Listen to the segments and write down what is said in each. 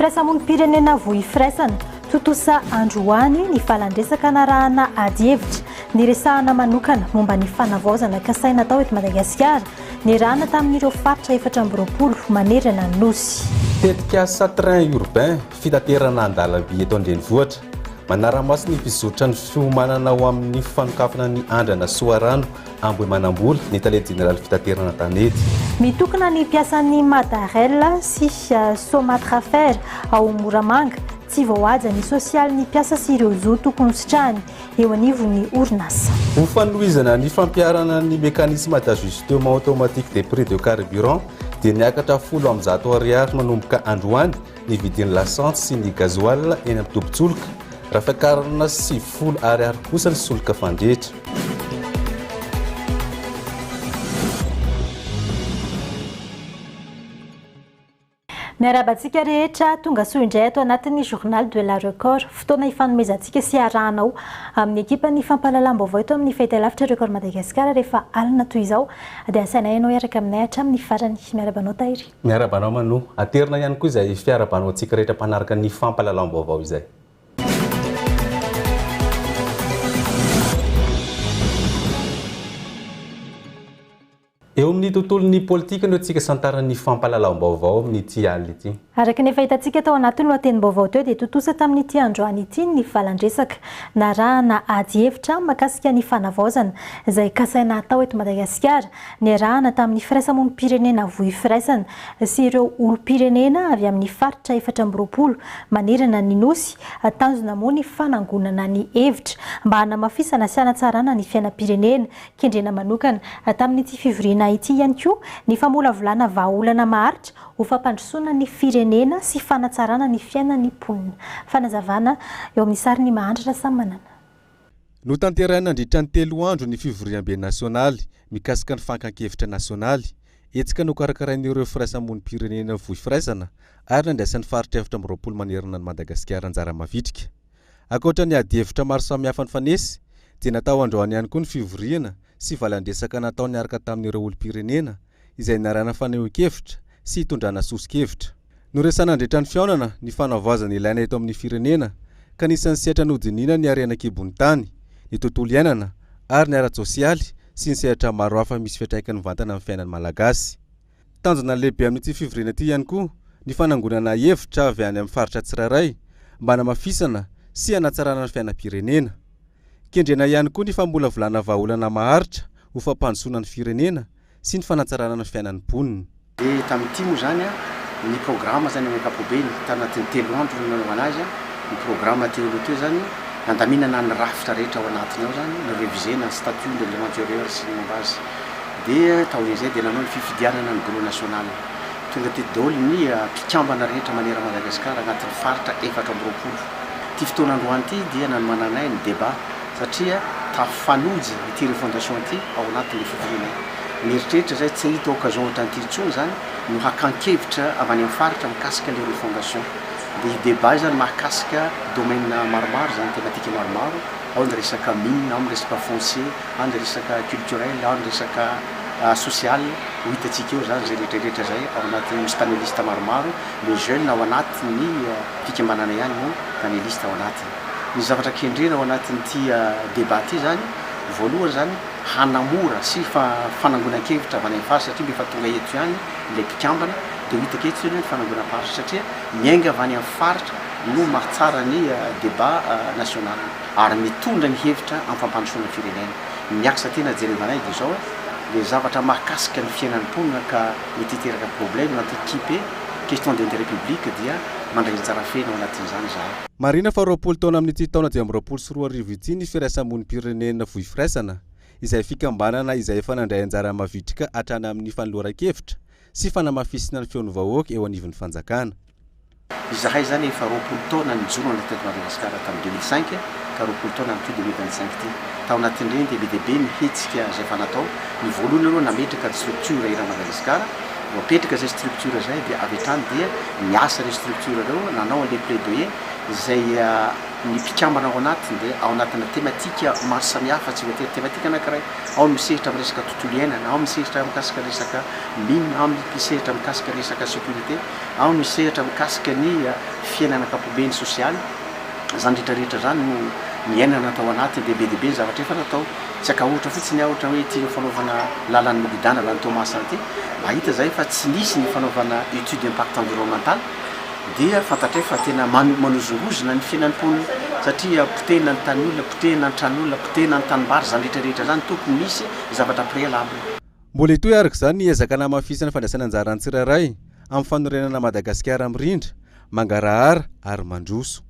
Firaisamonim-pirenena Voi Firaisana, tontosa androany ny valandresaka narahana adihevitra niresahana manokana momba ny fanavaozana kasaina atao eto Madagasikara, niarahana tamin'ireo faritra efatra amby roapolo manerana ny Nosy. Tetikasa train urbain, fitaterana an-dalamby eto an-drenivohitra, manara-maso ny fizotran'ny fiomanana ho amin'ny fanokafana ny andrana Soarano Ambohimanambola, ny tale jeneraly fitaterana tanety. Mitokona ny mpiasan'ny Madarel sy Somatrafer ao Moramanga, tsy voahaja ny sosialin'ny mpiasa sy ireo zo tokony hositrahany eo anivon'ny orinasa. Ho fanohizana ny fampiharana ny mécanisme d'ajustement automatique des prix de carburant dia miakatra folo amby zato ariary manomboka androany ny vidin'ny lasantsy sy ny gasoil eny amin'ny tobin-tsoloka, raha fiakarana sivifolo ariary kosa ny solika fandrehitra. Miarahaba antsika rehetra, tonga soa indray ato anatin'ny Journal de la Record. Fotoana hifanomezantsika sy hiarahanao amin'ny ekipan'ny fampahalalam-baovao eto amin'ny Fahita Lavitra Record Madagascar rehefa alina toy izao. Dia asaina ianao hiaraka aminay hatramin'ny farany. Miarahaba anao Tahiry. Miarahaba anao Manou. Aterina ihany koa izay fiarahabana ho antsika rehetra mpanaraka ny fampahalalam-baovao izay. Eo amin'ny tontolon'ny politika no antsika santaran'ny fampahalalam-baovao amin'ity alina ity. Araka ny efa hitantsika tao anatin'ny lohatenim-baovao teo dia tontosa tamin'ity androany ity ny valan-dresaka narahana ady hevitra mikasika ny fanavaozana izay kasaina hatao eto Madagasikara. Niarahana tamin'ny firaisamonim-pirenena Voi Firaisana sy ireo olom-pirenena avy amin'ny faritra efatra amby roapolo manerana ny Nosy, tanjona moa ny fanangonana ny hevitra mba hanamafisana sy hanatsarana ny fiainam-pirenena, kendrena manokana. Tamin'ity fivoriana ity ihany koa ny famolavolana vahaolana maharitra ho fampandrosoana ny firenena sy fanatsarana ny fiainan'ny mponina. Fanazavana eo amin'ny sarin'i Mahantra Rasamanana. Notanterahina nandritra ny telo andro ny fivoriambe nasionaly mikasika ny fankan-kevitra nasionaly, hetsika nokarakarain'ireo firaisamonim-pirenena vohy firaisana ary nandraisan'ny faritra efatra amby roapolo manerana an'i Madagasikara anjara mavitrika. Ankoatra ny adihevitra maro samihafa nifanesy, dia natao androany ihany koa ny fivoriana sy valandresaka natao niaraka tamin'ireo olom-pirenena izay niarahana fanehoan-kevitra sy hitondrana soso-kevitra. Noresahana nandritra ny fihaonana ny fanavaozana ilaina eto amin'ny firenena ka anisan'ny sehatra nodinihina ny harena an-kibon'ny tany, ny tontolo iainana ary ny ara-tsosialy sy ny sehatra maro hafa misy fiantraikany mivantana amin'ny fiainan'ny Malagasy. Tanjona lehibe amin'ity fivoriana ity ihany koa ny fanangonana hevitra avy any amin'ny faritra tsirairay mba hanamafisana sy hanatsarana ny fiainam-pirenena. Kendrena ihany koa ny famolavolana vahaolana maharitra ho fampandrosoana ny firenena sy ny fanatsarana ny fiainan'ny mponina. Dia tamin'ity moa izany ny programa izany amin'ny ankapobeny, tao anatin'ny telo andro no nanaovana azy, ny programa teo aloha teo izany, nandaminana ny rafitra rehetra ao anatiny ao izany, ni-reviser-na ny statut ny règlement intérieur sy ny momba azy. Dia taorian'izay dia nanao ny fifidianana ny bureau national. Tonga teto daholo ny mpikambana rehetra maneran'i Madagasikara anatin'ny faritra efatra amby roapolo. Ity fotoana androany ity dia nanomananay ny débat. satria tafanojo ity refondation ity ao anatin'ilay fivoriana io, mieritreritra izay tsy hahita occasion ohatran'ity intsony izany no hakan-kevitra avy any amin'ny faritra mikasika ilay refondation, dia hi-debat izany mahakasika domaine maromaro izany, thématique maromaro, ao ny resaka mine, ao ny resaka foncier, ao ny resaka culturel, ao ny resaka social, ho hitantsika eo izany izay rehetrarehetra izay ao anatin'ny, misy panelistes maromaro, ny jeunes ao anatin'ny fikambanana ihany no panelistes ao anatiny. ny zavatra kendrena ao anatin'ity débat ity izany, voalohany izany, hanamora sy fanangonan-kevitra avy any amin'ny faritra satria mba efa tonga eto ihany ilay mpikambana, dia ho hita aketo izao ny fanangonam-paritra satria miainga avy any amin'ny faritra no mahatsara ny débat national ary mitondra ny hevitra amin'ny fampandrosoana ny firenena. Miakatra aty na jerevanay dia izao ilay zavatra mahakasika ny fiainan'ny mponina ka mety hiteraka problème na antiquipé, question d'intérêt public dia mandray anjara feno ao anatin'izany izahay. Marihina fa roapolo taona amin'ity taona dimy amby roapolo sy roa arivo ity ny Firaisamonim-pirenena Fohy Firaisana, izay fikambanana izay efa nandray anjara mavitrika hatrany amin'ny fanoloran-kevitra sy fanamafisina ny feon'ny vahoaka eo anivon'ny fanjakana. Izahay izany efa roapolo taona nijoro nandritra teto Madagasikara tamin'ny deux mille cinq ka roapolo taona amin'ity deux mille vingt cinq ity. Tao anatin'ireny dia be dia be ny hetsika izay efa natao. Ny voalohany aloha nametraka ny structure Era Madagasikara Vao apetraka izay structure izay dia avy hatrany dia niasa ireo structure ireo nanao an'ilay plaidoyer izay ny mpikambana ao anatiny dia ao anatina thématique maro samihafa tsy voatery thématique anankiray, ao ny misehatra amin'ny resaka tontolo iainana, ao ny misehatra mikasika ny resaka mines, ao ny misehatra mikasika ny resaka sécurité, ao ny misehatra mikasika ny fiainana ankapobeny sosialy, izany rehetra rehetra izany no niainana tao anatiny dia be dia be ny zavatra efa natao. Tsy akahotra fotsiny aho ohatra hoe ity no fanaovana lalan'ny Migodàna na ny Thomas Santé, mba hita zahay fa tsy nisy ny fanaovana étude impact environnemental dia fantatray fa tena manozongozona ny fiainan'ny mponina satria potehina ny tany olona, potehina ny trano olona, potehina ny tanimbary, izany rehetra rehetra izany tokony nisy zavatra préalable. Mbola hitohy araka izany ny ezaka hanamafisana fandraisana anjara ny tsirairay amin'ny fanorenana Madagasikara mirindra, mangarahara ary mandroso.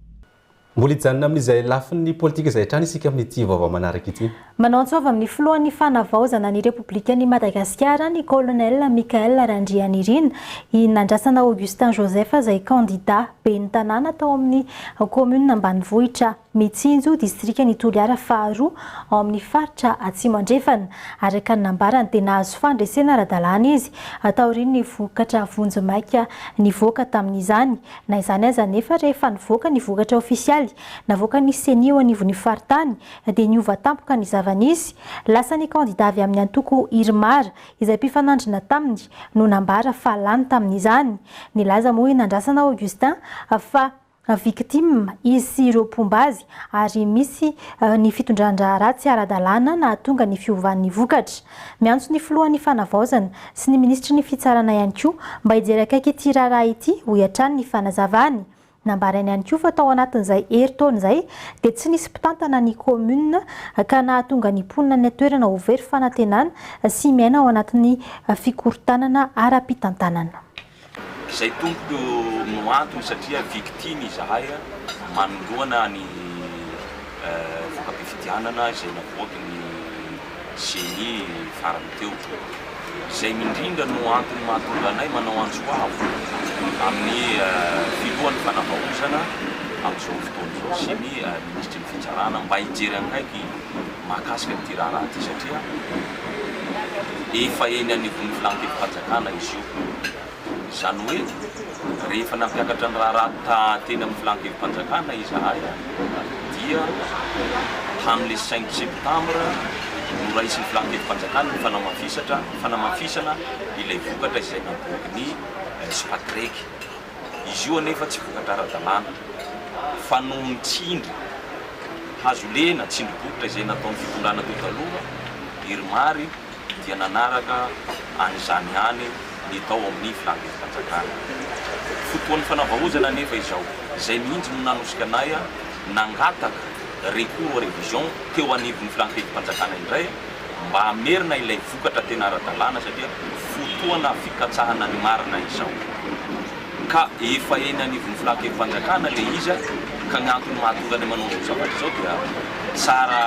Mbola hijanona amin'izay lafiny politika izay hatrany isika amin'ity vaovao manaraka ity. Manao antso avy amin'ny filohan'ny Fanavaozana ny Repoblikan'i Madagasikara, ny Colonel Michaël Randrianirina, i Nandrasana Augustin Joseph izay kandida ben'ny tanàna tao amin'ny kaominina ambanivohitra Mitsinjo, distrikan'i Toliara faharoa ao amin'ny faritra Atsimo Andrefana. Araka ny nambarany dia nahazo fandresena ara-dalàna izy taorian'ny vokatra vonjimaika nivoaka tamin'izany. Na izany aza anefa, rehefa nivoaka ny vokatra ofisialy navoakan'ny Ceni eo anivon'ny faritany dia niova tampoka ny zava-nisy. Lasa ny kandidà avy amin'ny antoko Irmar, izay mpifanandrina taminy, no nambara fa lany tamin'izany. Nilaza moa i Nandrasana Augustin fa victime izy sy ireo mpomba azy ary misy ny fitondran-draharaha tsy ara-dalàna nahatonga ny fiovan'ny vokatra. Miantso ny filohan'ny Fanavaozana sy ny minisitry ny Fitsarana ihany koa mba hijery akaiky ity raharaha ity, hoy hatrany ny fanazavany. Nambarainy ihany koa fa tao anatin'izay herintaona izay dia tsy nisy mpitantana ny kaominina ka nahatonga ny mponina any an-toerana ho very fanantenana sy miaina ao anatin'ny fikorontanana ara-pitantanana. Izay tompoko no antony satria victime izahay manoloana ny voka-pifidianana izay navoaky ny ceni farany teo. Izay indrindra no antony mahatonga anay manao antso avo amin'ny filohan'ny fanavaozana amin'izao fotoana izao sy ny minisitry ny fitsarana mba hijery akaiky mahakasika an'ity raharaha ity satria efa eny anivon'ny filan-kevi-panjakana izy io. Izany hoe rehefa nampiakatra ny raharaha taha teny amin'ny filan-kevi-panjakana izahay dia tamin'ilay cinq septembre noraisin'ny filan-kevi-panjakana ny fanamafisatra fanamafisana ilay vokatra izay naboaky ny Spatrec. Izy io anefa tsy vokatra ara-dalàna fa noho ny tsindry hazo lena, tsindry bokotra izay nataon'ny fitondrana teo taloha, Irmary dia nanaraka an'izany ihany ny tao amin'ny filankevi-panjakana. Fotoan'ny fanavaozana anefa izao, izay mihitsy no nanosika anay nangataka recours à revision teo anivon'ny filankevi-panjakana indray, mba hamerina ilay vokatra tena ara-dalàna satria fotoana fikatsahana ny marina izao ka efa eny anivon'ny filan-kevi-panjakana ilay izy ka ny antony mahatonga anay manao izao zavatra izao dia tsara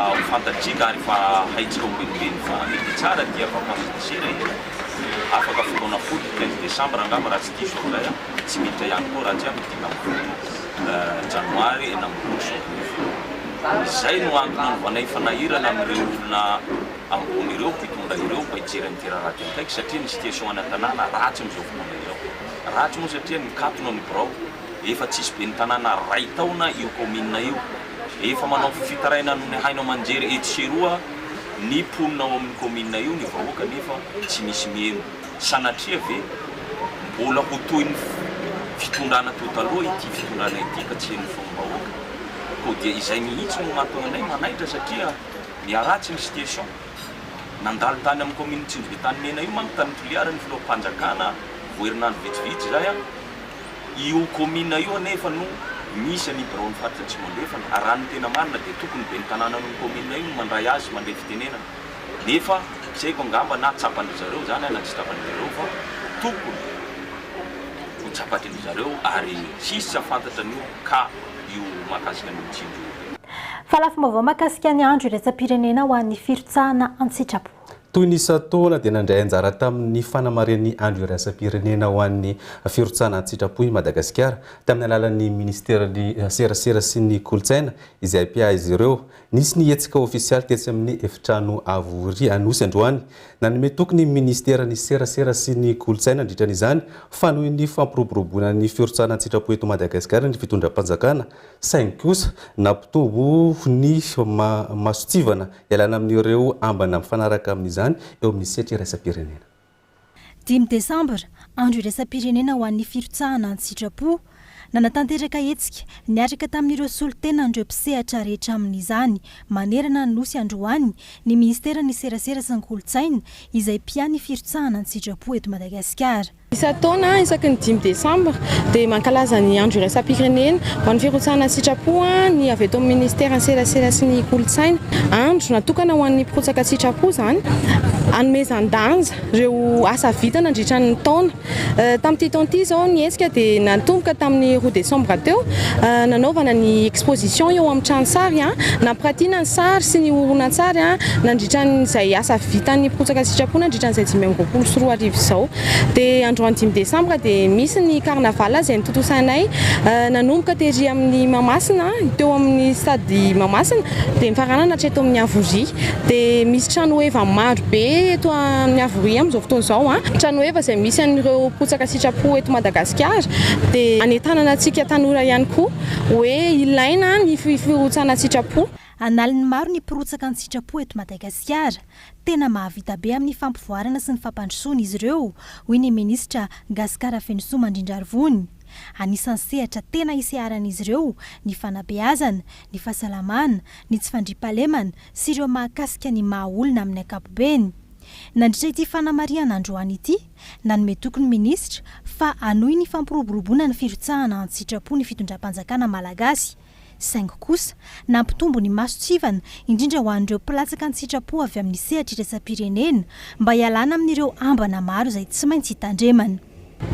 ho fantatsika ary efa haintsika ho benibeny fa ny dia tsara dia vapafikasera e! afaka fotoana fohy ny quinze décembre angamba raha tsy diso aho izay a! tsy miditra ihany koa raha tsy ahy ny dingam-bola. Janoary enina amby roapolo sy roa arivo. Izay no antony nanaovanay fanahirana amin'ireo olona ambony ireo, mpitondra ireo, mba hijery an'ity raharaha ity akaiky satria ny situation any an-tanàna ratsy amin'izao fotoana izao. Ratsy moa satria nikatona ny birao, efa tsisy ben'ny tanàna iray taona io kaominina io. Efa manao fifitaraina amin'ny haino aman-jery etsy sy eroa ny mponina ao amin'ny kaominina io ny vahoaka nefa tsy misy mieno. Sanatria ve mbola ho toy ny fitondrana teo taloha ity fitondrana ity ka tsy henon'ny fahom-bahoaka? Koa dia izay mihitsy no mahatonga anay manaitra satria miharatsy ny situation. Nandalo tany amin'ny kaominin'i Tsinjobe Tanimena io manko tany Toliara ny filoham-panjakana vao herinandro vitsivitsy izay an! Io kaomina io anefa no misy an'io biraon'ny faritra Atsimo Andrefana. Raha ny tena marina dia tokony ben'ny tanànan'io kaomina io no mandray azy mandray fitenenana. nefa tsy haiko angamba na tsapan-dry zareo izany na tsy tsapan-dry zareo fa tokony ho tsapan-dry zareo ary tsy hisy tsy hahafantatra an'io cas io mahakasika an'io Mijinjo io. Fa lafim-baovao mahakasika ny andro iraisam-pirenena ho an'ny firotsahana an-tsitrapo. Toy ny isan-taona dia nandray anjara tamin'ny fanamarihan'ny andro iraisam-pirenena ho an'ny firotsahana an-tsitrapo i Madagasikara, tamin'ny alalan'ny minisiteran'ny serasera sy ny kolontsaina izay mpiahy azy ireo Nisy ny hetsika ofisialy tetsy amin'ny Efitrano Avo Ry Anosy androany. Nanome toky ny Minisiteran'ny Serasera sy ny Kolontsaina nandritra an'izany fa noho ny fampiroboroboana ny firotsahana an-tsitrapo eto Madagasikara ny fitondram-panjakana saingy kosa nampitombo ny mason-tsivana ialana amin'ireo ambana mifanaraka amin'izany eo amin'ny sehatry iraisam-pirenena. Dimy desambra, andro iraisam-pirenena ho an'ny firotsahana an-tsitrapo. Nanatanteraka hetsika niaraka tamin'ireo solontenan'ireo mpisehatra rehetra amin'izany manerana ny Nosy androany ny minisiteran'ny Serasera sy ny Kolontsaina, izay mpia ny firotsahana an-tsitrapo eto Madagasikara. Isan-taona, isaky ny dimy desambra, dia mankalaza ny andro iraisam-pirenena Manao firotsahana an-tsitrapo ny avy eto amin'ny Ministeran'ny Serasera sy ny Kolontsaina. Andro natokana ho an'ny mpirotsaka an-tsitrapo izany, hanomezan-danja ireo asa vita nandritra ny taona. Tamin'ity taona ity izao ny hetsika dia natomboka tamin'ny roa desambra teo, nanaovana ny exposition eo amin'ny trano sary, nampiratiana ny sary sy ny horonantsary nandritra izay asa vitan'ny mpirotsaka an-tsitrapo nandritra an'izay dimy amby roapolo sy roa arivo izao. Dia androany dimy desambra dia misy ny carnaval izay notontosainay nanomboka tery amin'ny Mahamasina, teo amin'ny stade Mahamasina dia mifaranana hatreto amin'ny Havoria. Dia misy tranoheva maro be eto amin'ny Havoria amin'izao fotoana izao, tranoheva izay misy an'ireo mpotsaka sitrapo eto Madagasikara dia hanentanana antsika tanora ihany koa hoe ilaina ny firotsana an-tsitrapo. An'aliny maro ny mpirotsaka an-tsitrapo eto Madagasikara. Tena mahavita be amin'ny fampivoarana sy ny fampandrosoana izy ireo, hoy ny minisitra Gascar Afenosoa Mandrindrarivony. Anisan'ny sehatra tena iseharan'izy ireo ny fanabeazana, ny fahasalamana, ny tsy fandriampahalemana sy ireo mahakasika ny maha olona amin'ny ankapobeny. Nandritra ity fanamarihana androany ity, nanome toky ny minisitra fa hanohy ny fampiroboroboana ny firotsahana an-tsitrapo ny fitondram-panjakana malagasy, Saingy kosa, nampitombo ny mason-tsivana, indrindra ho an'ireo mpilatsaka an-tsitrapo avy amin'ny sehatra iraisam-pirenena, mba hialana amin'ireo ambana maro izay tsy maintsy hitandremana.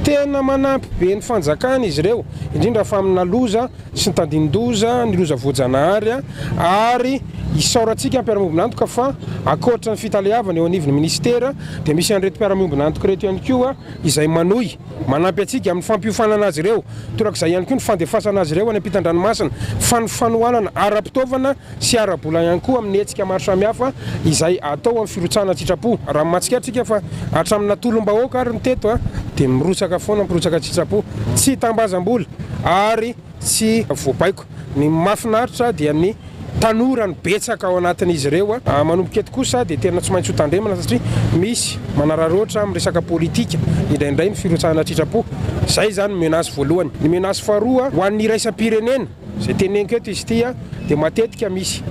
Tena manampy be ny fanjakana izy ireo, indrindra fa amina loza sy ny tandindoza, ny loza voajanahary, ary isaorantsika mpiara-miombon'antoka fa ankoatra ny fitaleavana eo anivon'ny minisitera dia misy an'ireto mpiara-miombon'antoka ireto ihany koa izay manohy Manampy antsika amin'ny fampiofanana azy ireo, torak'izay ihany koa ny fandefasana azy ireo any am-pitan-dranomasina, fa ny fanohanana ara-pitaovana sy ara-bola ihany koa amin'ny hetsika maro samihafa izay atao amin'ny firotsahana an-tsitrapo. Raha mahatsikaritra antsika fa hatramin'ny natolom-bahoaka ary ny teto dia mirotsaka foana, mpirotsaka an-tsitrapo, tsy hitambazam-bola ary. Tsy voabaiko. Ny mahafinaritra dia ny tanora no betsaka ao anatin'izy ireo. Manomboka eto kosa dia tena tsy maintsy ho tandremana satria misy manararoatra amin'ny resaka politika indraindray ny firotsahana tritrapo. Izay izany ny menace voalohany. Ny menace faharoa ho an'ny iraisam-pirenena, izay teneniko eto izy ity, dia matetika misy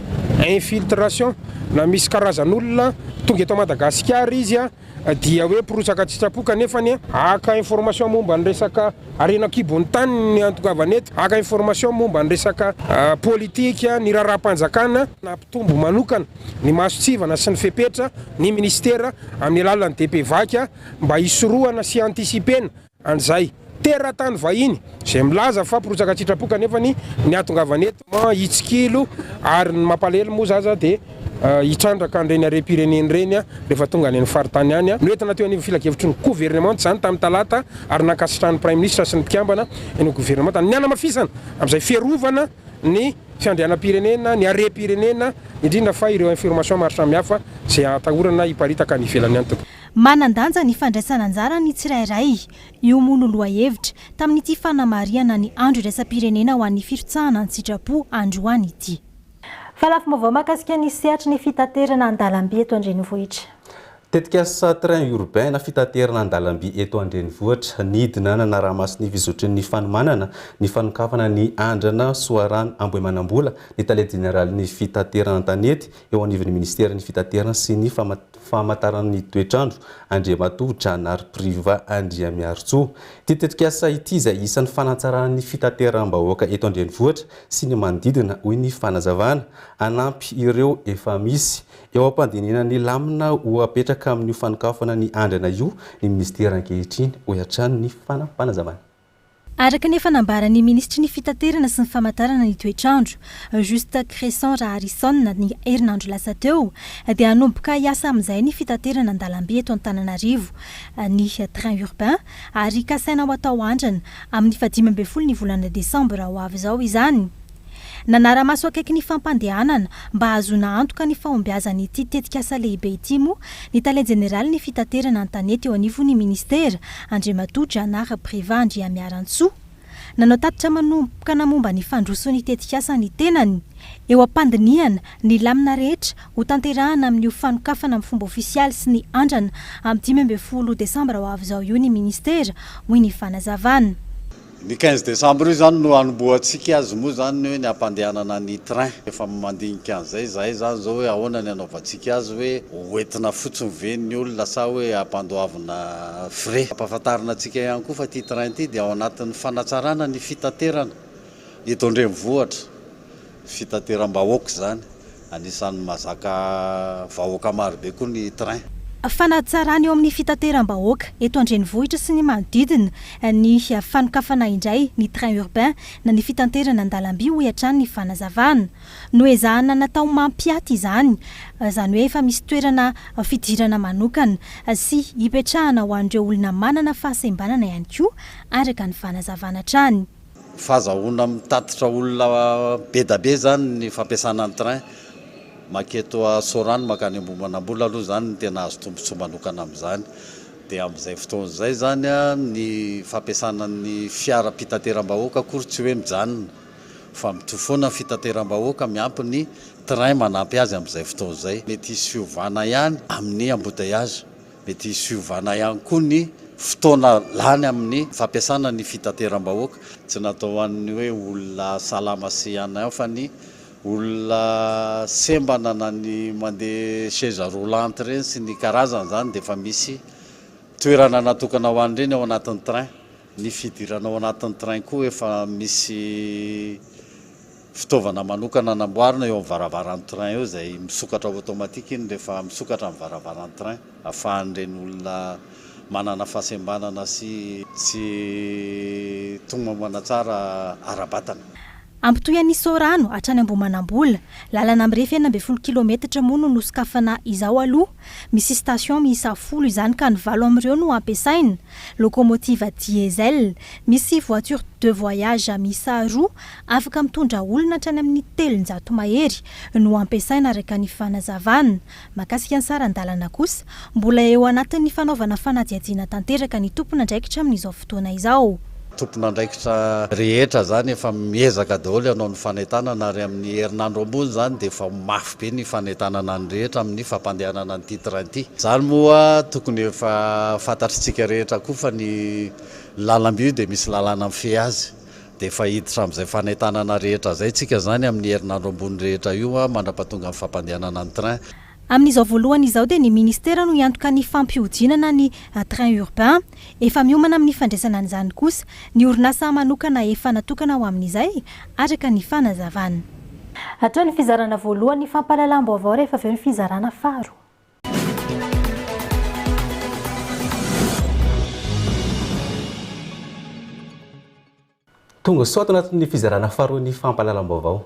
infiltration na misy karazan'olona tonga eto Madagasikara izy, Dia hoe mpirotsaka tsy tsapo kanefa anie haka information momba ny resaka harena an-kibon'ny tany ny antongavan eto, haka information momba ny resaka politika, ny raharaham-panjakana, nampitombo manokana ny mason-tsivana sy ny fepetra ny minisitera amin'ny alalan'ny DPVac mba hisorohana sy hiantisipena. an'izay teratany vahiny izay milaza fa mpirotsaka an-tsitrapo kanefa ny nihatongavany eto an hitsikilo ary ny mampalahelo moa zaza dia hitrandraka an'ireny harem-pirenena ireny rehefa tonga any amin'ny faritany any. Noentina teo anivon'ny filakevitry ny governemanta izany tamin'ny talata ary nankasitrahan'ny praiminisitra sy ny mpikambana eny amin'ny governemanta ny hanamafisana amin'izay fiarovana ny fiandrianam-pirenena, ny harem-pirenena indrindra fa ireo informations maro samihafa izay atahorana hiparitaka any ivelany any. Manan-danja ny fandraisana anjara ny tsirairay, io moa no lohahevitra tamin'ity fanamarihana ny Andro iraisam-pirenena ho an'ny firotsahana an-tsitrapo androany ity. Fa lafim-baovao mahakasika ny sehatry ny fitaterana an-dalamby eto an-drenivohitra. Tetikasa Train urbain na fitaterana an-dalamby eto an-drenivohitra, nidina nanara-maso ny fizotrin'ny fanomanana ny fanokafana ny andrana Soarano Ambohimanambola ny tale jeneralin'ny fitaterana an-tanety eo anivon'ny ministeran'ny fitaterana sy ny famantarana ny toetr'andro, Andriamatoa Janary Priva Andriamiarintsoa. Ity tetikasa ity izay isan'ny fanatsarana ny fitateram-bahoaka eto an-drenivohitra sy ny manodidina hoy ny fanazavana. Hanampy ireo efa misy. Eo am-pandinihana ny lamina ho apetraka amin'io fanokafana ny andrana io ny minisitera ankehitriny, hoy hatrany ny fanazavana. Araka ny efa nambaran'ny minisitry ny Fitaterana sy ny famantarana ny toetr'andro, Juste Cresson Raharison, ny herinandro lasa teo, dia hanomboka hiasa amin'izay ny fitaterana an-dalamby eto Antananarivo, ny train urbain, ary kasaina ho atao andrana amin'ny fahadimy ambin'ny folo ny volana desambra ho avy izao izany. Nanara-maso akaiky ny fampandehanana mba hahazoana antoka ny fahombiazan'ity tetikasa lehibe ity moa ny Tale Jeneralin'ny Fitaterana an-tanety eo anivon'ny Ministera, Andriamatoa Janary Priva Andriamiarantsoa. Nanao tatitra manompkana momba ny fandrosoan'ny tetikasa ny tenany, eo am-pandinihana ny lamina rehetra ho tanterahana amin'io fanokafana amin'ny fomba ofisialy sy ny andrana amin'ny dimy ambin'ny folo desambra ho avy izao io ny Ministera, hoy ny fanazavana. Ny quinze décembre io zany no anombohantsika azy moa zany ny hoe ny hampandehanana ny train. Efa mandinika an'izay izahay zany zao hoe ahoana ny hanaovantsika azy hoe ho entina fotsiny ve ny olona sa hoe hampandoavina frais. Ampahafantarina antsika ihany koa fa ity train ity dia ao anatin'ny fanatsarana ny fitaterana eto an-drenivohitra. Fitateram-bahoaka izany, anisan'ny mahazaka vahoaka marobe koa ny train. Fanatsarana eo amin'ny fitateram-bahoaka eto an-drenivohitra sy ny manodidina ny fanokafana indray ny train urbain na ny fitanterana an-dalamby, hoy hatrany ny fanazavana. Noezahana natao mampiaty izany, izany hoe efa misy toerana fidirana manokana sy ipetrahana ho an'ireo olona manana fahasembanana ihany koa, araka ny fanazavana hatrany. Fazahoana mitatitra olona bedabe izany ny fampiasana ny train maketo Sorano makany Ambohimanambola aloha izany no tena azo tombotsoa manokana amin'izany dia amin'izay fotoana izay izany ny fampiasana ny fiaram-pitateram-bahoaka akory tsy hoe mijanona fa mitohy foana ny fitateram-bahoaka miampy ny train manampy azy amin'izay fotoana izay mety hisy fiovana ihany amin'ny embouteillages Mety hisiovana ihany koa ny fotoana lany amin'ny fampiasana ny fitateram-bahoaka. Tsy natao ho an'ny hoe olona salama sy an an fa ny olona sembana na ny mandeha chaise roulante ireny sy ny karazany izany dia efa misy toerana natokana ho an'ireny ao anatin'ny train. Ny fidirana ao anatin'ny train koa efa misy. Fitaovana manokana namboarina eo amin'ny varavaran'ny train eo izay misokatra ao automatique iny rehefa misokatra ny varavaran'ny train afahan'ireny olona manana fahasembanana sy tsy togno aman-tsara ara-batana. Ampitohy an'i Sorano hatrany Ambohimanambola, lalana mirefy enina ambin'ny folo kilometatra moa no nosokafana izao aloha. Misy station miisa folo izany ka ny valo amin'ireo no ampiasaina. Locomotive diesel. Misy voiture de voyage miisa roa Afaka mitondra olona hatrany amin'ny telonjato mahery no ampiasaina araka ny fanazavana. Mahakasika ny saran-dalana kosa, mbola eo anatin'ny fanaovana fanadihadiana tanteraka ny tompon'andraikitra amin'izao fotoana izao. Tompon'andraikitra rehetra izany efa miezaka daholo hanao ny fanentanana ary amin'ny herinandro ambony izany dia efa ho mafy be ny fanentanana ny rehetra amin'ny fampandehanana an'ity train ity. Izany moa tokony efa fantatr'isika rehetra koa fa ny lalamby io dia misy lalàna mifehy azy Dia efa hiditra amin'izay fanentanana rehetra izay tsika izany amin'ny herinandro ambony rehetra io mandrapatonga ny fampandehanana ny train. Amin'izao voalohany izao dia ny Ministera no hiantoka ny fampihodinana ny train urbain. Efa miomana amin'ny fandraisana an'izany kosa ny orinasa manokana efa natokana ho amin'izay, araka ny fanazavana. Hatao ny fizarana voalohany fampahalalam-baovao rehefa avy eo ny fizarana faharoa. Tonga soa ato anatin'ny fizarana faharoa ny fampahalalam-baovao.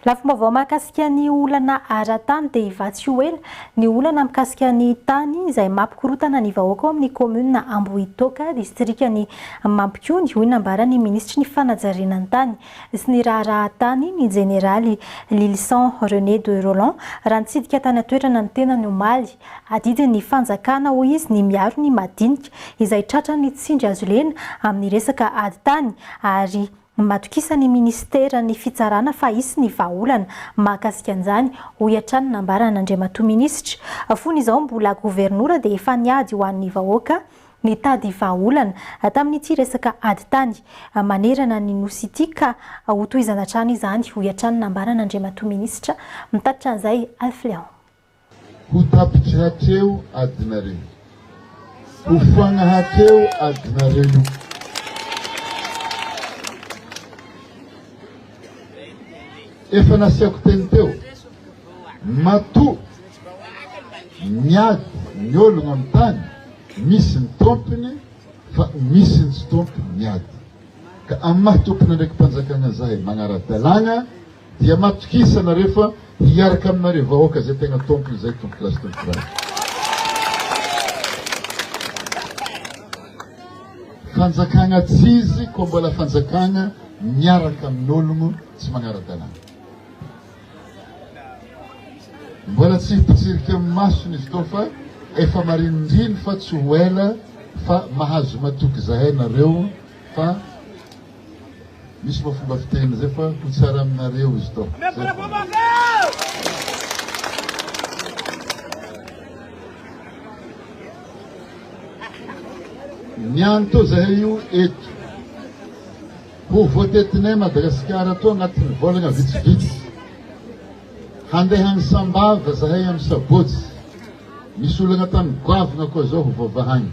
Lafim-baovao mahakasika ny olana ara-tany dia hivatsy tsy ho ela ny olana mikasika ny tany izay mampikorotana ny vahoaka ao amin'ny kaominina Ambohitoaka, distrikan'i Mampikony, hoy ny nambaran'ny minisitry ny fanajariana ny tany. sy ny raharaha tany ny Jeneraly Lylison René de Rolland raha nitsidika tany an-toerana ny tenany omaly. Adidin'ny fanjakana hoy izy ny miaro ny madinika izay tratran'ny tsindry hazolena amin'ny resaka ady tany ary matokisan'ny minisiteran'ny fitsarana fa hisy ny vahaolana mahakasika an'izany hoy hatrany nambaran'Andriamatoa Minisitra. Fony izao mbola governora dia efa niady ho an'ny vahoaka Nitady vahaolana tamin'ity resaka ady tany manerana ny Nosy ity ka hotohizana hatrany izany, hoy hatrany nambaran' Andriamatoa Minisitra mitatitra an'izay Alph Léon. Ho tapitry hatreo adinareo. Ho foagna hatreo adinareo. Efa nasiako teny teo, matoa miady ny ologno amin'ny tany, misy ny tompony fa misy ny tsy tompony miady. Ka amin'ny maha tompon'andraiki-panjakana zahay magnara-dalàgna dia matokisa nareo fa hiaraka aminareo vahoaka izay tegna tompony izay, tompokolahy sy tompokivavy. Fanjakana tsy izy koa mbola fanjakana miaraka amin'ologno tsy magnara-dalàna. Mbola tsy hipotsirika amin'ny masony izy tô fa efa marinindriny fa tsy ho ela fa mahazo matoky zahay nareo fa Misy moa fomba fiteny izay fa ho tsara aminareo izy tô. Niany tô zahay io eto. Ho voatetinay Madagasikara tô anatin'ny volagna vitsivitsy. Handeha any Sambava zahay amin'ny sabotsy. Misy olagna tany goavana koa zao ho voavahagny.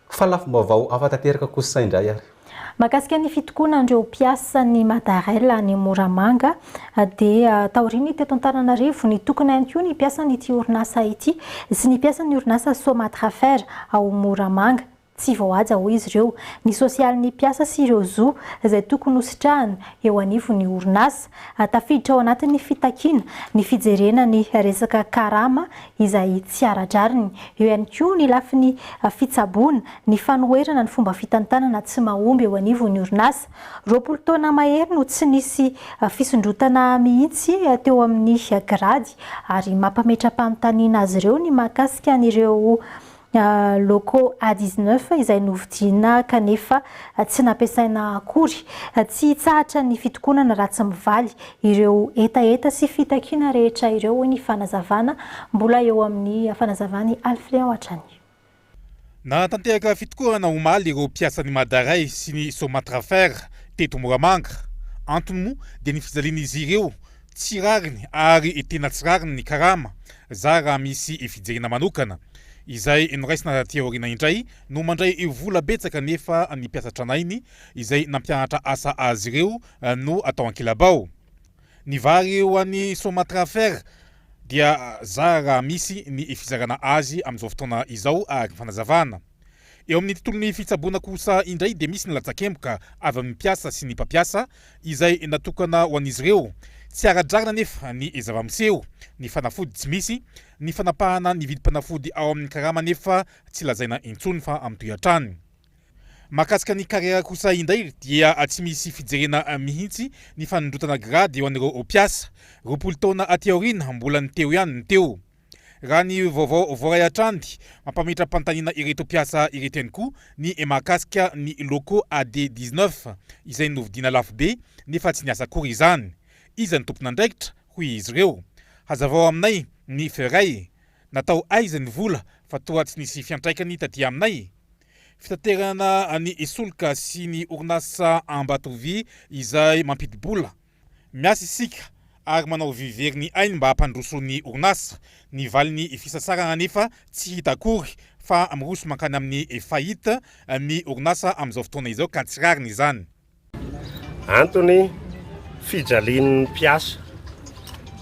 Fa lafim-baovao hafa tanteraka kosa indray ary. Mahakasika ny fitokonan'ireo mpiasan'ny Madarel any Moramanga dia taorian'ny teto Antananarivo, nitokona ihany koa ny mpiasan'ity orinasa ity sy ny mpiasan'ny orinasa Somatrafer ao Moramanga. Tsy vao haja hoy izy ireo ny sosialin'ny mpiasa sy ireo zo izay tokony hositrahana eo anivon'ny orinasa. Tafiditra ao anatin'ny fitakiana ny fijerena ny resaka karama izay tsy ara-drariny. Eo ihany koa ny lafiny fitsaboana, ny fanoherana ny fomba fitantanana tsy mahomby eo anivon'ny orinasa. Roapolo taona mahery no tsy nisy fisondrotana mihitsy teo amin'ny grady ary mampametra-panontaniana azy ireo ny mahakasika an'ireo Loco A dix neuf izay novidiana kanefa tsy nampiasaina akory. Tsy hitsahatra ny fitokonana raha tsy mivaly ireo hetaheta sy fitakiana rehetra ireo, hoy ny fanazavana. Mbola eo amin'ny fanazavan'i Alfreao hatrany. Nanatanteraka fitokonana omaly ireo mpiasan'ny Mada Rail sy ny Somatrafer teto Moramanga. Antony moa dia ny fijalian'izy ireo Tsy rariny ary tena tsy rariny ny karama, zary raha misy fijerena manokana. Izay noraisina taty aoriana indray no mandray vola betsaka nefa ny mpiasa tranainy izay nampianatra asa azy ireo no atao ankilabao. Ny vary ho an'ny Somatrafer dia zary raha misy ny fizarana azy amin'izao fotoana izao araka ny fanazavana. Eo amin'ny tontolon'ny fitsaboana kosa indray dia misy ny latsakemboka avy amin'ny mpiasa sy ny mpampiasa izay natokana ho an'izy ireo. Tsy ara-drariny anefa ny zava-miseho, ny fanafody tsy misy, ny fanapahana ny vidim-panafody ao amin'ny karama anefa tsy lazaina intsony fa mitohy hatrany. Mahakasika ny kariera kosa indray dia tsy misy fijerena mihitsy ny fanondrotana grady ho an'ireo mpiasa. Roapolo taona aty aoriana mbola ny teo ihany ny teo. Raha ny vaovao voaray hatrany, mampametra-panontaniana ireto mpiasa ireto ihany koa ny mahakasika ny locaux AD dix neuf izay novidiana lafo be nefa tsy niasa akory izany. Iza ny tompon'andraikitra? hoy izy ireo. Hazavao aminay ny Ferey. Natao aiza ny vola fa toa tsy nisy fiantraikany taty aminay? Fitaterana ny solika sy ny orinasa Ambatovy izay mampidi-bola Miasa isika ary manao vy very ny ainy mba hampandroso ny orinasa. Ny valin'ny fisasarana anefa tsy hita akory fa miroso mankany amin'ny faillite ny orinasa amin'izao fotoana izao ka tsy rariny izany. Antony, fijalian'ny mpiasa.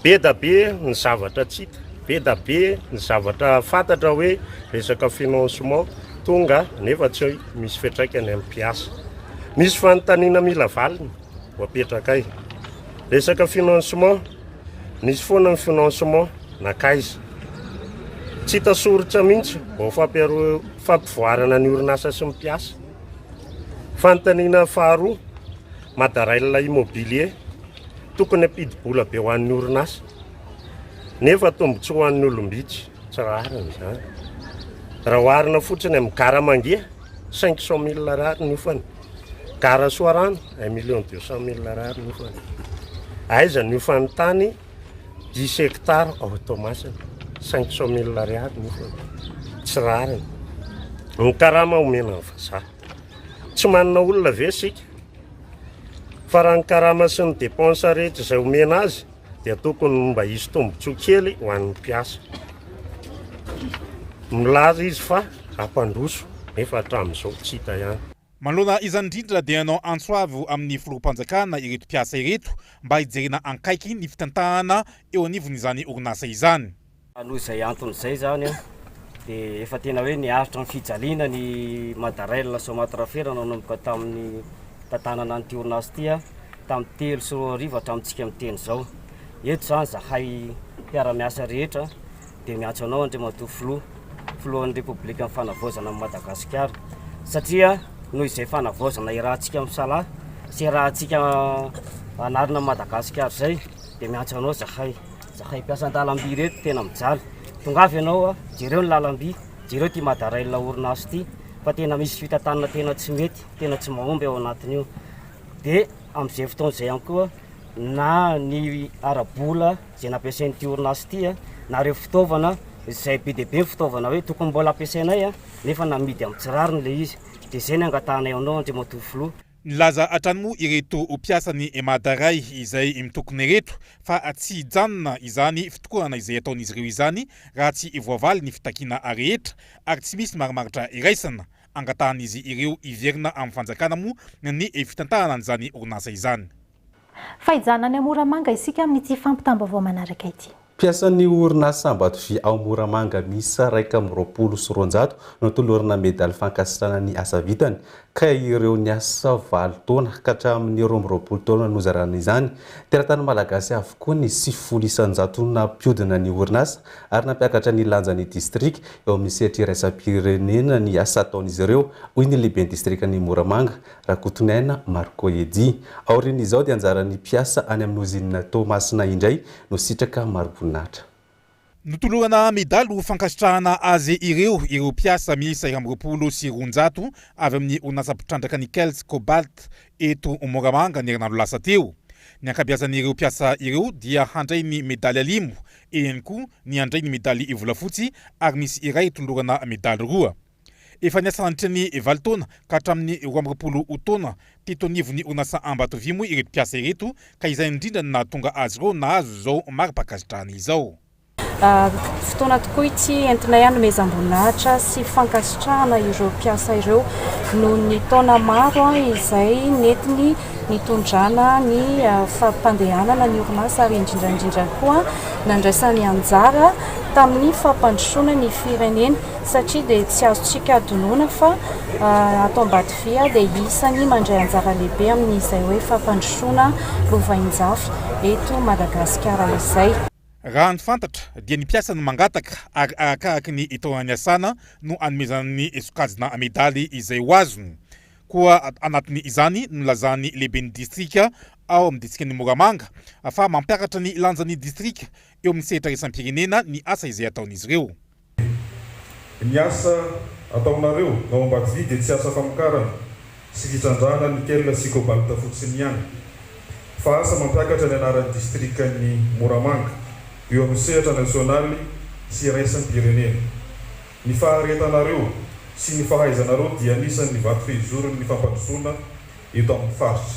Be da be ny zavatra tsy hita, be da be ny zavatra fantatra hoe resaka financement tonga nefa tsy misy fiantraikany amin'ny mpiasa. Misy fanontaniana mila valiny. ho apetrakay. Resaka financement, nisy foana ny financement, nakaiza? Tsy hita soritra mihitsy vao fampiaro- fampivoarana ny orinasa sy ny mpiasa. Fanontaniana faharoa, Madarail Immobilier, tokony hampidi-bola be ho an'ny orinasa, nefa tombontsoa ho an'ny olom-bitsy, tsy rariny izany. Raha oharina fotsiny amin'ny gara mangia, 500 mille ariary ny hofany. Gara Soarano, un million deux cent mille Ar ny hofany. Aiza ny hofan'ny tany dix hectares ao Toamasina, cinq cent mille Ar ny hofany. Tsy rariny. Ny karama omena ny vazaha. Tsy manana olona ve isika? Fa raha ny karama sy ny dépenses rehetra izay omena azy, dia tokony mba hisy tombontsoa kely ho an'ny mpiasa. Milaza izy fa hampandroso nefa hatramin'izao tsy hita ihany. Manoloana izany indrindra dia nanao antso avo amin'ny filoham-panjakana ireto mpiasa ireto mba hijerena ankaiky ny fitantahana eo anivon'izany orinasa izany. Noho izay antony izay izany dia efa tena hoe niaritra ny fijaliana ny Madarail Somatra Ferre nanomboka tamin'ny nitantanana an'ity orinasa ity tamin'ny telo sy roa arivo hatramintsika miteny izao. Eto izany izahay mpiara-miasa rehetra dia miantso anao Andriamatoa Filoha, Filohan'ny Repoblikan'ny Fanavaozana an'i Madagasikara satria noho izay fanavaozana irahantsika misalahy sy irahantsika hanarina an'i Madagasikara izay dia miantso anao izahay. Zahay mpiasa an-dalamby ireto tena mijaly. Tongava ianao, jereo ny lalamby, jereo ity Madarail orinasa ity fa tena misy fitantanana tena tsy mety, tena tsy mahomby ao anatin'io. Dia amin'izay fotoana izay ihany koa na ny ara-bola izay nampiasain'ity orinasa ity na ireo fitaovana izay be dia be ny fitaovana hoe tokony mbola ampiasainay nefa namidy amin'ny tsy rariny ilay izy. Dia izay no angatahanay aminao Andriamatoa Filoha. Nilaza hatrany moa ireto mpiasan'ny Emada Ray izay mitokona ireto fa tsy hijanona izany fitokonana izay ataon'izy ireo izany raha tsy voavaly ny fitakiana rehetra ary tsy misy marimaritra iraisana. Angatahan'izy ireo hiverina amin'ny fanjakana moa ny fitantanana an'izany orinasa izany. Fa hijanona any Moramanga isika amin'ity fampitam-baovao manaraka ity. Mpiasan'ny orinasa Ambatovy ao Moramanga miisa iraika amby roapolo sy roanjato no tolorana medaly fankasitrahana ny asa vitany ka ireo niasa valo taona ka hatramin'ny roa amby roapolo taona no zarana izany. Teratany malagasy avokoa ny sivifolo isan-jato nampiodina ny orinasa ary nampiakatra ny lanjan'ny distrika eo amin'ny sehatra iraisam-pirenena ny asa ataon'izy ireo, hoy ny lehiben'ny distrikan'i Moramanga, Rakotonaina Marco Eddy. Aorian'izao dia anjaran'ny mpiasa any amin'ny ozinina Toamasina indray no sitraka mariboninahitra. Notolorana medaly ho fankasitrahana azy ireo ireo mpiasa miisa iraika amby roapolo sy roanjato avy amin'ny orinasa mpitrandraka Nickels Cobalt eto Moramanga ny herinandro lasa teo. Ny ankabeazan'ireo mpiasa ireo dia handray ny medaly alimo, eny koa ny handray ny medaly volafotsy ary misy iray tolorana medaly roa. Efa niasa nandritra ny valo taona ka hatramin'ny roa amby roapolo taona teto anivon'ny Onasa Ambatovia moa ireto mpiasa ireto ka izay indrindra no nahatonga azy ireo nahazo izao mari-pankasitrahana izao. Fotoana tokoa ity entinay hanomezam-boninahitra sy fankasitrahana ireo mpiasa ireo noho ny taona maro izay nentiny nitondrana ny fampandehanana ny orinasa ary indrindra indrindra koa nandraisany anjara tamin'ny fampandrosoana ny firenena. satria dia tsy azontsika adinoina fa ato Ambatoviha dia isany mandray anjara lehibe amin'izay hoe fampandrosoana lovainjafy eto Madagasikara izay. Raha ny fantatra dia ny mpiasa no mangataka ary arakaraky ny taona niasana no anomezana ny sokajina medaly izay ho azony koa anatin' izany no nilazan'ny lehiben'ny distrika ao amin'ny distrikan'i Moramanga fa mampiakatra ny lanjan'ny distrika eo amin'ny sehatra iraisam-pirenena ny asa izay ataon'izy ireo. Dia ny asa ataonareo ao Ambatodia dia tsy asa famokarana sy fitrandrahana nickel sy cobalt fotsiny ihany, fa asa mampiakatra ny anaran'ny distrikan'i Moramanga eo amin'ny sehatra nasionaly sy iraisam-pirenena. Ny faharetanareo sy ny fahaizanareo dia anisan'ny vato fehizoron'ny fampandrosoana eto amin'ny faritra.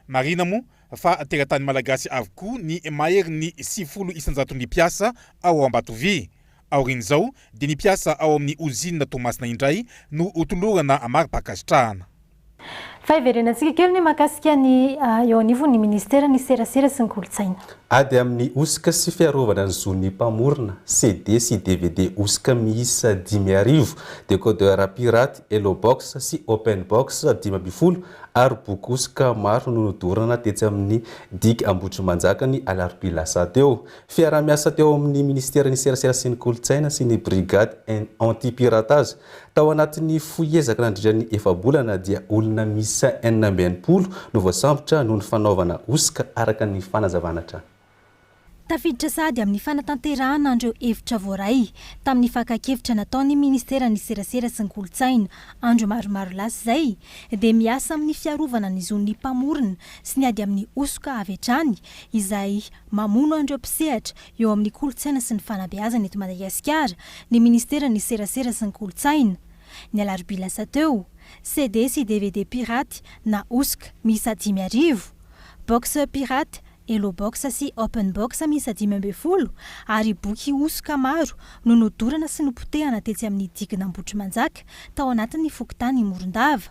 Marina moa fa teratany malagasy avokoa ny maherin'ny sivifolo isan-jaton'ny mpiasa ao Ambatovia. Aorian'izao dia ny mpiasa ao amin'ny ozinina Toamasina indray no ho tolorana mari-pankasitrahana. Fa hiverenantsika kely ny mahakasika ny eo anivon'ny minisiteran'ny Serasera sy ny Kolontsaina. Ady amin'ny hosoka sy fiarovana ny zon'ny mpamorona, CD sy dvd hosoka miisa dimy arivo, décodeur pirate, Hellobox sy Openbox dimy ambin'ny folo, ary boky hosoka maro no nodorana tetsy amin'ny Digue Ambohitrimanjaka ny alarobia lasa teo. Fiaraha-miasa teo amin'ny Minisiteran'ny Serasera sy ny Kolontsaina sy ny Brigade Anti-Piratage. Tao anatin'ny fohy ezaka nandritra ny efa-bolana dia olona miisa enina amby enimpolo no voasambotra noho ny fanaovana hosoka araka ny fanazavana hatrany. Tafiditra sady amin'ny fanatanterahana an'ireo hevitra voaray tamin'ny fakan-kevitra nataon'ny Ministeran'ny Serasera sy ny Kolontsaina andro maromaro lasa izay dia miasa amin'ny fiarovana ny zon'ny mpamorona sy ny ady amin'ny hosoka avy hatrany izay mamono an'ireo mpisehatra eo amin'ny kolontsaina sy ny fanabeazana eto Madagasikara ny Ministeran'ny Serasera sy ny Kolontsaina ny alarobia lasa teo. CD sy dvd piraty na hosoka miisa dimy arivo box pirate Hello Box sy Open Box miisa dimy ambin'ny folo ary boky hosoka maro no nodorana sy nopotehana tetsy amin'ny digin'Ambohitrimanjaka tao anatin'ny fokontany Morondava.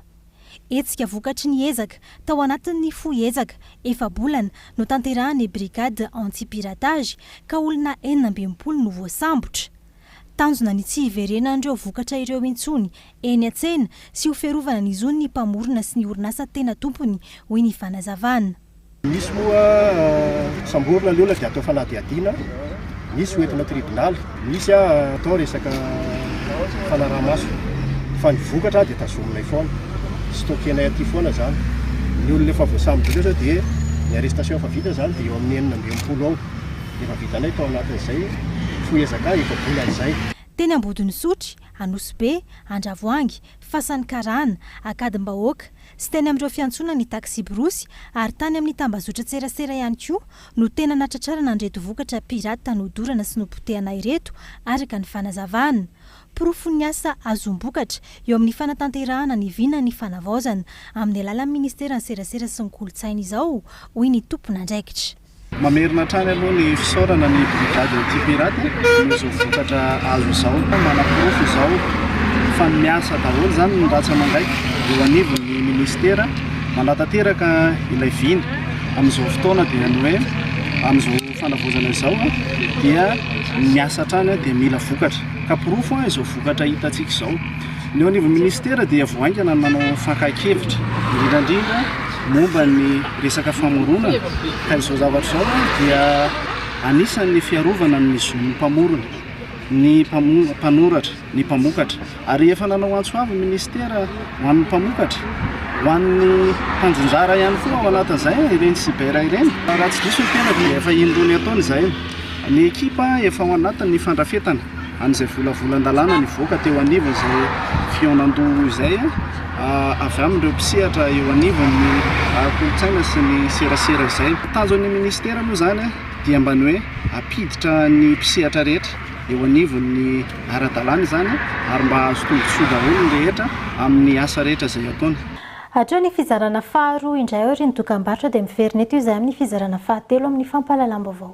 Hetsika vokatry ny ezaka tao anatin'ny fohy ezaka efa-bolana notanterahan'ny Brigade Anti-Piratage ka olona enina amby enimpolo no voasambotra. Tanjona ny tsy hiverenan'ireo vokatra ireo intsony eny an-tsena sy ho fiarovana ny zon'ny mpamorona sy ny orinasa tena tompony, hoy ny fanazavana. Misy moa samborina ny olona dia atao fanadihadiana, misy ho entina tribonaly, misy atao resaka fanaraha-maso fa ny vokatra dia tazominay foana, stockenay aty foana izany. Ny olona efa voasamborina eto dia ny arrestation efa vita izany dia eo amin'ny enina amby enimpolo eo no efa vitanay tao anatin'izay fohezaka efa volana izay. Teny Ambodin'Isotry, Anosibe, Andravoahangy, Fasan'ny Karana, Ankadimbahoaka, sy teny amin'ireo fiantsonan'ny taksiborosy ary tany amin'ny tambazotran-tserasera ihany koa no tena natratrarana an'ireto vokatra pirate nodorana sy nopotehana ireto, araka ny fanazavana. Porofon'ny asa azom-bokatra eo amin'ny fanatanterahana ny vinan'ny fanavaozana amin'ny alalan'ny ministeran'ny serasera sy ny kolontsaina izao, hoy ny tompon'andraikitra. Mamerina hatrany aloha ny fisaorana ny Brigade Anti-Pirate nohon'izao vokatra azo izao. Manaporofo izao fa miasa daholo izany ny ratsy aman-gaiky eo anivon'ny Ministera. Manatanteraka ilay vina. Amin'izao fotoana dia ny hoe amin'izao fanavaozana izao dia miasa hatrany dia mila vokatra. Ka porofo izao vokatra hitantsika izao. Ny eo anivon'ny minisitera dia vao haingana ny manao fankahikevitra, indrindra indrindra momba ny resaka famoronana, ka izao zavatra izao dia anisan'ny fiarovana ny zon'ny mpamorona, ny mpanoratra, ny mpamokatra. Ary efa nanao antso avy ny minisitera ho an'ny mpamokatra, ho an'ny mpanjonjara ihany koa ao anatin'izay ireny cyber ireny. Raha tsy diso ny tenako dia efa indroa ny ataony izay. Ny ekipa efa ao anatin'ny fandrafetana. an'izay volavolan-dalàna nivoaka teo anivon'izay fihaonandoha izay avy amin'ireo mpisehatra eo anivon'ny kolontsaina sy ny serasera izay. Ny tanjon'ny minisitera moa izany dia mba ny hoe hampiditra ny mpisehatra rehetra eo anivon'ny ara-dalàna izany ary mba hahazo tombontsoa daholo ny rehetra amin'ny asa rehetra izay ataony. Hatreo ny fizarana faharoa indray aorian'ny dokambarotra dia miverina eto izahay amin'ny fizarana fahatelo amin'ny fampahalalam-baovao.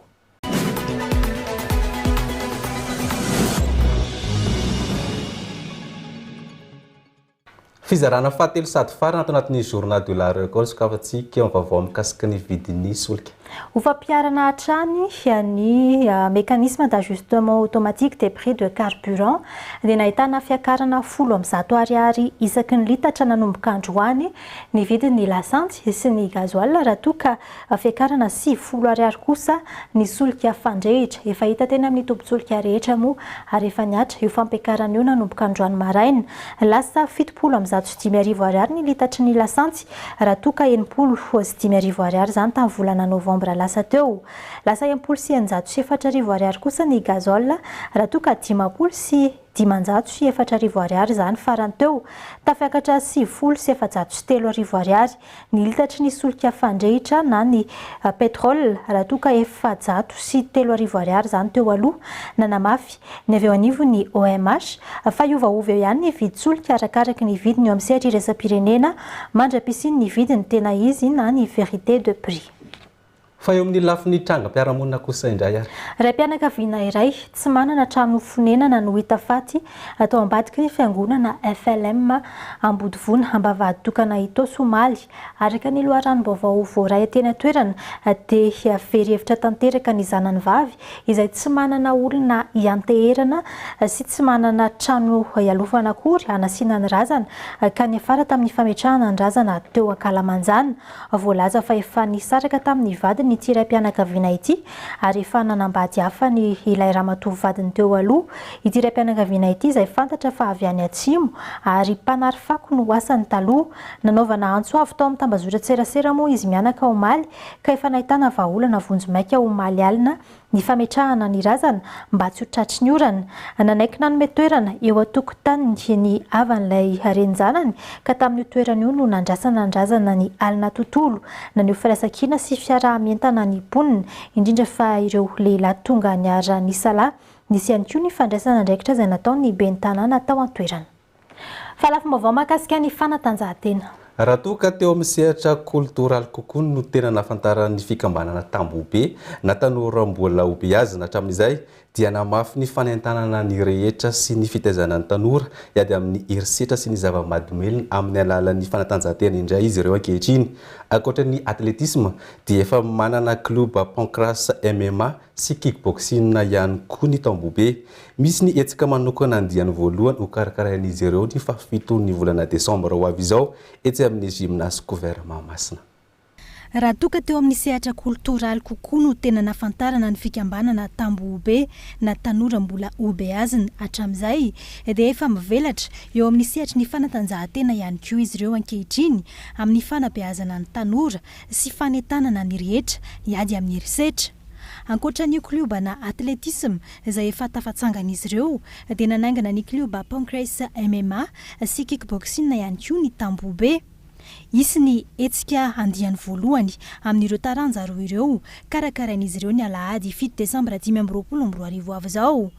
Fizarana fahatelo sady farany ato anatin'ny Journal de la Récolte sokafantsika ny vaovao mikasika ny vidin'ny solika. Ho fampiharana hatrany ny mécanisme d'ajustement automatique des prix de carburant dia nahitana fiakarana folo amby zato ariary isaky ny litatra nanomboka androany ny vidin'ny lasantsy sy ny gasoil raha toa ka Fiakarana sivifolo ariary kosa ny solika fandrehitra. Efa hita teny amin'ny tobin-tsolika rehetra moa ary efa nihatra io fampiakarana io nanomboka androany maraina. Lasa fitopolo amby zato sy dimy arivo ariary ny litatry ny lasantsy raha toa ka enimpolo sy dimy arivo ariary izany tamin'ny volana novambra lasa teo. Lasa enimpolo sy eninjato sy efatra arivo ariary kosa ny gazole raha toa ka dimampolo sy dimanjato sy efatra arivo ariary izany farany teo, tafiakatra sivifolo sy efajato sy telo arivo ariary ny litatry ny solika fandrehitra na ny pétrole raha toa ka efajato sy telo arivo ariary izany teo aloha. Nanamafy ny avy eo anivon'ny OMH fa hiovaova eo ihany ny vidin-tsolika arakaraky ny vidiny eo amin'ny sehatra iraisam-pirenena mandra-pisian'ny vidiny tena izy na ny vérité de prix. Fa eo amin'ny lafiny trangam-piarahamonina kosa indray ary. Raim-pianakaviana iray tsy manana trano fonenana no hita faty tao ambadiky ny fiangonana FLM Ambodivona Ambavahaditokana Itaosy omaly. Araka ny loharanom-baovao voaray teny an-toerana dia very hevitra tanteraka ny zanany vavy izay tsy manana olona hianteherana sy tsy manana trano hialofana akory hanasiana ny razana ka niafara tamin'ny fametrahana ny razana teo ankalamanjana Voalaza fa efa nisaraka tamin'ny vadiny ity raim-pianakaviana ity ary efa nanambady hafa ny ilay ramatoa vadiny teo aloha. Ity raim-pianakaviana ity izay fantatra fa avy any Atsimo ary mpanary fako no asany taloha. Nanaovana antso avo tao amin'ny tambazotran-tserasera moa izy mianaka omaly ka efa nahitana vahaolana vonjimaika omaly alina ny fametrahana ny razana mba tsy ho tratry ny orana, nanaiky nanome toerana eo an-tokotaniny ny havan'ilay renin-janany ka tamin'io toerana io no nandrasana ny razana ny alina tontolo, naneho firaisan-kina sy fiaraha-mientana ny mponina, indrindra fa ireo lehilahy tonga niara-nisalahy. Nisy ihany koa ny fandraisana andraikitra izay nataon'ny ben'ny tanàna tao an-toerana. Fa lafim-baovao mahakasika ny fanatanjahantena. Raha toa ka teo amin'ny sehatra koltoraly kokoa no tena nahafantaran'ny fikambanana Tambohobe na tanora mbola hobeazina hatramin'izay dia namafy ny fanentanana ny rehetra sy ny fitaizana ny tanora hiady amin'ny herisetra sy ny zava-mahadomelina amin'ny alalan'ny fanatanjahantena indray izy ireo ankehitriny. Ankoatra ny atletisma dia efa manana klioba pancrase MMA sy kickboxing ihany koa ny Tambohobe. Misy ny hetsika manokana andiany voalohany hokarakarain'izy ireo ny fahafiton'ny volana desambra ho avy izao etsy amin'ny Gymnase Couvert Mahamasina. Raha toa ka teo amin'ny sehatra koltoraly kokoa no tena nahafantarana ny fikambanana Tambohobe na Tanora Mbola Hobeazina hatramin'izay dia efa mivelatra eo amin'ny sehatry ny fanatanjahantena ihany koa izy ireo ankehitriny amin'ny fanabeazana ny tanora sy fanentanana ny rehetra hiady amin'ny herisetra Ankoatra ny kliobana atletisma izay efa tafatsangan'izy ireo dia nanaingana ny klioba Pancrase MMA sy Kickboxing ihany koa ny Tambohobe. Hisy ny hetsika andiany voalohany amin'ireo taranja roa ireo karakarain'izy ireo ny alahady fito desambra dimy amby roapolo amby roa arivo avy izao.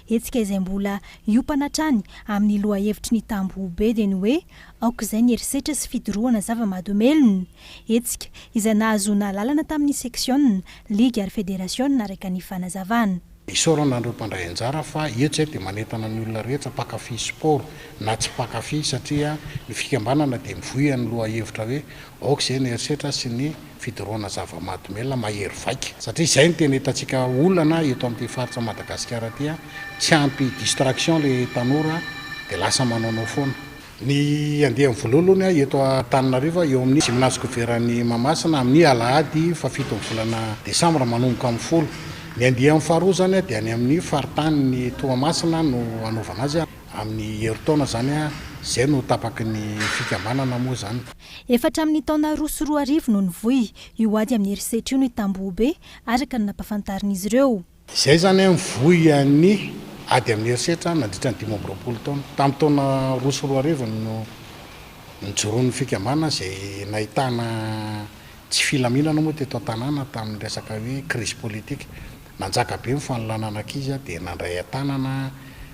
Hetsika izay mbola hiompana hatrany amin'ny lohahevitry ny Tambohobe dia ny hoe Aok'izay ny herisetra sy fidorohana zava-mahadomelina, hetsika, izay nahazoana alalana tamin'ny seksiona, ligy ary federasiona araka ny fanazavana. Isaorana an'ireo mpandray anjara fa etsy dia manentana ny olona rehetra mpankafy sport na tsy mpankafy satria ny fikambanana dia mivoy amin'ny lohahevitra hoe Aok'izay ny herisetra sy ny fidorohana zava-mahadomelina mahery vaika. Satria izay no tena hitantsika olana eto amin'ity faritra Madagasikara ity, tsy ampy distraction ilay tanora dia lasa manaonao foana. Ny andiany voalohaloany eto Antananarivo eo amin'ny Gymnase Goveran'i Mahamasina amin'ny alahady fahafito ny volana desambra manomboka amin'ny folo. Ny andiany faharoa izany dia any amin'ny faritanin'i Toamasina no hanaovana azy amin'ny herintaona izany izay no tapaky ny fikambanana moa izany. Efa hatramin'ny taona roa sy roa arivo no nivoy io ady amin'ny herisetra io ny tambohobe araka ny nampafantarin'izy ireo. Izay izany an, mivoy an'ny ady amin'ny herisetra nandritra ny dimy amby roapolo taona. Tamin'ny taona roa sy roa arivo no nijoroan'ny fikambanana izay nahitana tsy filaminana moa teto an-tanàna tamin'ny resaka hoe krizy politika. Nanjaka be ny fanolanana ankizy aho dia nandray an-tanana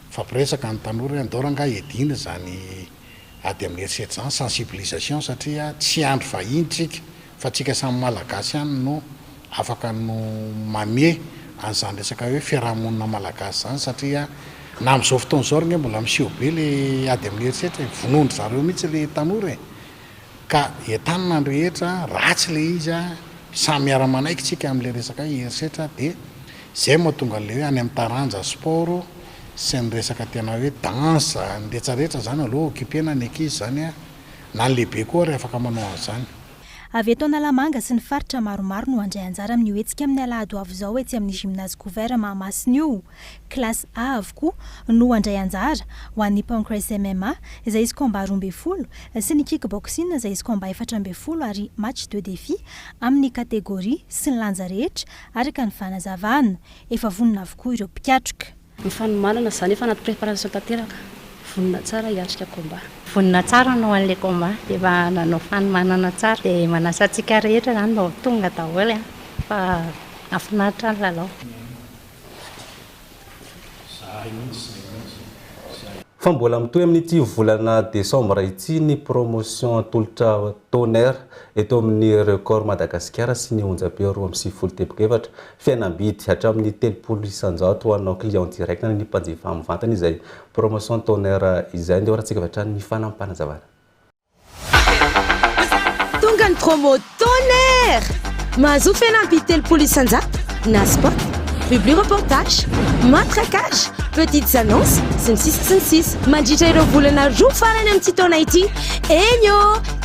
nifampiresaka ny tanora hoe andao rangahy hiadiana izany ady amin'ny herisetra izany, sensibilisation, satria tsy hiandry vahiny isika Fa tsika samy Malagasy ihany no afaka no mamie an'izany resaka hoe fiaraha-monina Malagasy izany satria na amin'izao fotoana izao ary nge mbola miseho be le ady amin'ny herisetra e, vonoin-dry zareo mihitsy le tanora e, ka entanina ny rehetra, ratsy le izy a, samy miara-manaiky tsika amin'le resaka hoe herisetra de zay no mahatonga an'le hoe any amin'ny taranja sport sy ny resaka tena hoe dansa, ny rehetra rehetra izany aleo occupena ny ankizy izany a. Na ny lehibe koa ary afaka manao an'izany. Avy eto Analamanga sy ny faritra maromaro no handray anjara amin'io hetsika amin'ny alahady ho avy izao etsy amin'ny Gymnase Couvert Mahamasina io. Classe A avokoa no handray anjara, ho an'ny Pancrase MMA, izay izy combat roa ambin'ny folo, sy ny Kickboxing, izay izy combat efatra ambin'ny folo ary match de défi amin'ny catégorie sy ny lanja rehetra araka ny fanazavana. Efa vonona avokoa ireo mpikatroka. Ny fanomanana izany efa anaty préparation tanteraka, vonona tsara hiatrika combat. Vonona tsara anao anle combat de efa nanao fanomanana tsara de manasa antsika rehetra zany mba ho tonga daholo an fa afinaritra ny lalao. Fa mbola mitohy amin'ity volana desambra ity ny promotion atolotra Tonnerre eto amin'ny Record Madagasikara sy ny Onjam-peo roa amby sivifolo teboka efatra. Fihenam-bidy hatramin'ny telopolo isan-jato ho anao client direct na ny mpanjifa mivantana izay promotion toner izay andeha horahantsika avy hatrany ny fanapanazavana. Tonga ny promo toner! Mahazoa fihenam-bidy telopolo isan-jato na spot, publi reportage, matraquage, petites annonces, sy ny sisa sy ny sisa mandritra ireo volana roa farany amin'ity taona ity. Eny ô!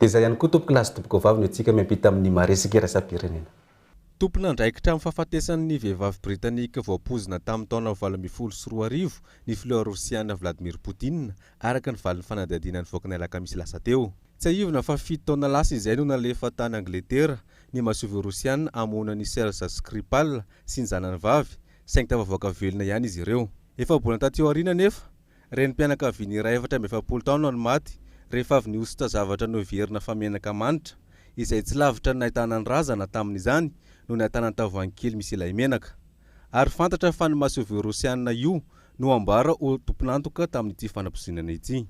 Dia izay ihany koa tompokolahy sy tompokovavy no hetsika miampita amin'ny maresaka iraisam-pirenena. Tompon'andraikitra amin'ny fahafatesan'ny vehivavy Britanika voapoizina tamin'ny taona valo ambin'ny folo sy roa arivo ny filoha Rosiana Vladimir Putin, araka ny valin'ny fanadihadiana nivoaka ny alakamisy lasa teo. Tsiahivina fa fito taona lasa izay no nalefa tany Angletera ny masoivoho Rosiana hamono an'i Serge Skripal sy ny zanany vavy, saingy tafavoaka velona ihany izy ireo. Efa-bolana taty aoriana anefa, Renim-pianakaviana iray efatra amby efapolo taona no maty rehefa avy nihosotra zavatra noheverina fa menaka manitra, izay tsy lavitra ny nahitana ny razana tamin'izany no nahitana ny tavoahangy kely misy ilay menaka. Ary fantatra fa ny masoivoho Rosiana io no ambara ho tompon'antoka tamin'ity fanapozinana ity.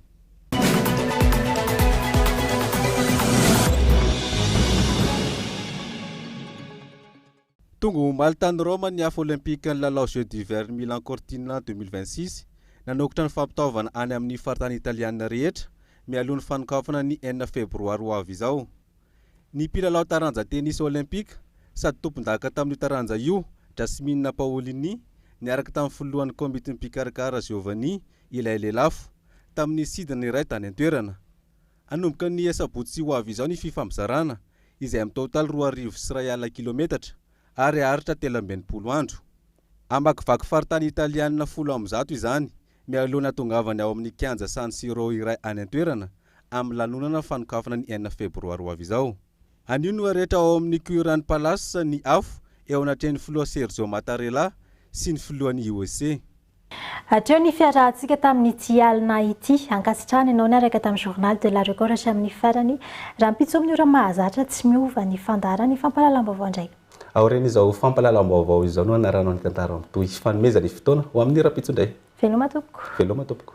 Tonga omaly tany Roma ny Afo Olimpikan'ny lalao Jeux d'hiver Milan Cortina deux mille vingt six. Nanokotra ny fampitaovana any amin'ny faritany Italiana rehetra mialoha ny fanokafana ny enina Febroary ho avy izao. Ny mpilalao taranja tenisy Olympika sady tompondaka tamin'io taranja io, Jasmine Paolini, niaraka tamin'ny filohan'ny komitin'ny mpikarakara Giovanni, ilay lelafo, tamin'ny sidina iray tany an-toerana. Hanomboka ny asabotsy ho avy izao ny fifampizarana, izay amin'ny taotaly roa arivo sy iray alina kilometatra ary haharitra telo amby enimpolo andro. Hamakivaky faritany italianina folo amby zato izany, mialoha ny hahatongavany ao amin'ny kianja San Siro iray any an-toerana, amin'ny lanonana fanokafana ny enina febroary ho avy izao. Anio no harehitra ao amin'ny Currant Palace ny afo eo anatrehan'ny filoha Sergio Mattarella sy ny filohan'ny IOC. Hatreo ny fiarahantsika tamin'ity alina ity. Ankasitrahana ianao niaraka tamin'ny Journal de la Record hatramin'ny farany. Rahampitso amin'ny ora mahazatra tsy miova ny fandaharan'ny fampahalalam-baovao indray. Aorian'izao fampahalalam-baovao izao no hanaranao ny tantara mitohy. Fanomezana ny fotoana ho amin'ny rahampitso indray. Veloma tompoko. Veloma tompoko.